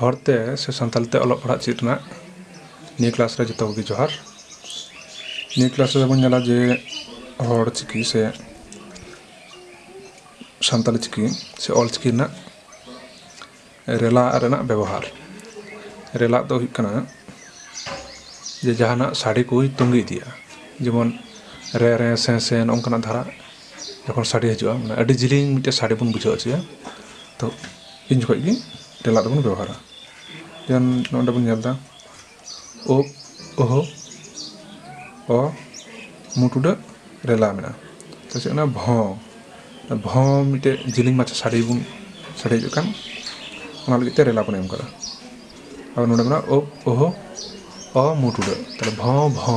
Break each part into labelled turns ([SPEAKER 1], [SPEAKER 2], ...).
[SPEAKER 1] ᱦᱚᱲᱛᱮ ᱥᱮ ᱥᱟᱱᱛᱟᱲ ᱛᱮ ᱚᱞᱚᱜ ᱯᱟᱲᱦᱟᱜ ᱪᱮᱫ ᱨᱮᱱᱟᱜ ᱱᱤᱭᱟᱹ ᱠᱞᱟᱥ ᱨᱮ ᱡᱚᱛᱚ ᱠᱚᱜᱮ ᱡᱚᱦᱟᱨ ᱱᱤᱭᱟᱹ ᱠᱞᱟᱥ ᱨᱮᱫᱚ ᱵᱚᱱ ᱧᱮᱞᱟ ᱡᱮ ᱦᱚᱲ ᱪᱤᱠᱤ ᱥᱮ ᱥᱟᱱᱛᱟᱲᱤ ᱪᱤᱠᱤ ᱥᱮ ᱚᱞ ᱪᱤᱠᱤ ᱨᱮᱱᱟᱜ ᱨᱮᱞᱟ ᱨᱮᱱᱟᱜ ᱵᱮᱵᱚᱦᱟᱨ ᱨᱮᱞᱟ ᱫᱚ ᱦᱩᱭᱩᱜ ᱠᱟᱱᱟ ᱡᱮ ᱡᱟᱦᱟᱱᱟᱜ ᱥᱟᱰᱮ ᱠᱚᱭ ᱛᱟᱹᱜᱤ ᱤᱫᱤᱭᱟ ᱡᱮᱢᱚᱱ ᱨᱮ ᱨᱮ ᱥᱮ ᱥᱮ ᱱᱚᱝᱠᱟᱱᱟᱜ ᱫᱷᱟᱨᱟ ᱡᱚᱠᱷᱚᱱ ᱥᱟᱰᱮ ᱦᱤᱡᱩᱜᱼᱟ ᱢᱟᱱᱮ ᱟᱹᱰᱤ ᱡᱤᱞᱤᱧ ᱢᱤᱫᱴᱮᱱ ᱥᱟᱰᱮ ᱵᱚᱱ ᱵᱩᱡᱷᱟᱹᱣ ᱦᱚᱪᱚᱭᱟ ᱛᱚ ᱩᱱ ᱡᱚᱠᱷᱚᱱ ᱜᱮ ᱴᱮᱞᱟᱨ ᱫᱚᱵᱚᱱ ᱵᱮᱵᱚᱦᱟᱨᱟ ᱡᱮᱢᱚᱱ ᱱᱚᱰᱮ ᱵᱚᱱ ᱧᱮᱞᱫᱟ ᱳ ᱳᱦᱳ ᱚ ᱢᱩ ᱴᱩᱰᱟᱹᱜ ᱨᱮᱞᱟ ᱢᱮᱱᱟᱜᱼᱟ ᱛᱚ ᱪᱮᱫ ᱠᱟᱱᱟ ᱵᱷᱚ ᱵᱷᱚ ᱢᱤᱫᱴᱮᱱ ᱡᱤᱞᱤᱧ ᱢᱟᱪᱷᱟ ᱥᱟᱰᱮ ᱵᱚᱱ ᱥᱟᱰᱮ ᱦᱤᱡᱩᱜ ᱠᱟᱱ ᱚᱱᱟ ᱞᱟᱹᱜᱤᱫ ᱛᱮ ᱨᱮᱞᱟ ᱵᱚᱱ ᱮᱢ ᱠᱟᱫᱟ ᱟᱨ ᱱᱚᱰᱮ ᱢᱮᱱᱟᱜᱼᱟ ᱳ ᱳᱦᱳ ᱚ ᱢᱩ ᱴᱩᱰᱟᱹᱜ ᱛᱟᱦᱚᱞᱮ ᱵᱷᱚ ᱵᱷᱚ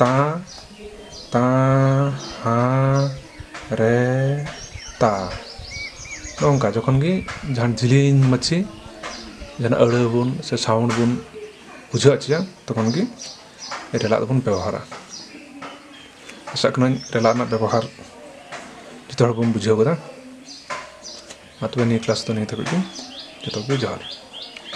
[SPEAKER 1] ᱛᱟᱸ ᱛᱟᱸ ᱦᱟᱸ ᱨᱮ ᱛᱟ ᱱᱚᱝᱠᱟ ᱡᱚᱠᱷᱚᱱ ᱜᱮ ᱡᱟᱦᱟᱱ ᱡᱤᱞᱤᱧ ᱢᱟᱪᱷᱤ ᱡᱟᱦᱟᱱᱟᱜ ᱟᱹᱲᱟᱹ ᱵᱚᱱ ᱥᱮ ᱥᱟᱣᱩᱱᱰ ᱵᱚᱱ ᱵᱩᱡᱷᱟᱹᱣ ᱦᱚᱪᱚᱭᱟ ᱛᱚᱠᱷᱚᱱ ᱜᱮ ᱨᱮᱞᱟᱜ ᱫᱚᱵᱚᱱ ᱵᱮᱵᱚᱦᱟᱨᱟ ᱟᱥᱟᱜ ᱠᱟᱹᱱᱟᱹᱧ ᱨᱮᱞᱟᱜ ᱨᱮᱱᱟᱜ ᱵᱮᱵᱚᱦᱟᱨ ᱡᱚᱛᱚ ᱦᱚᱲ ᱵᱚᱱ ᱵᱩᱡᱷᱟᱹᱣ ᱠᱟᱫᱟ ᱢᱟ ᱛᱚᱵᱮ ᱱᱤᱭᱟᱹ ᱠᱞᱟᱥ ᱫᱚ ᱱᱤᱭᱟᱹ ᱫᱷᱟᱹᱵᱤᱡ ᱜᱮ ᱡᱚᱛᱚ ᱠᱚᱜᱮ ᱡᱚᱦᱟᱨ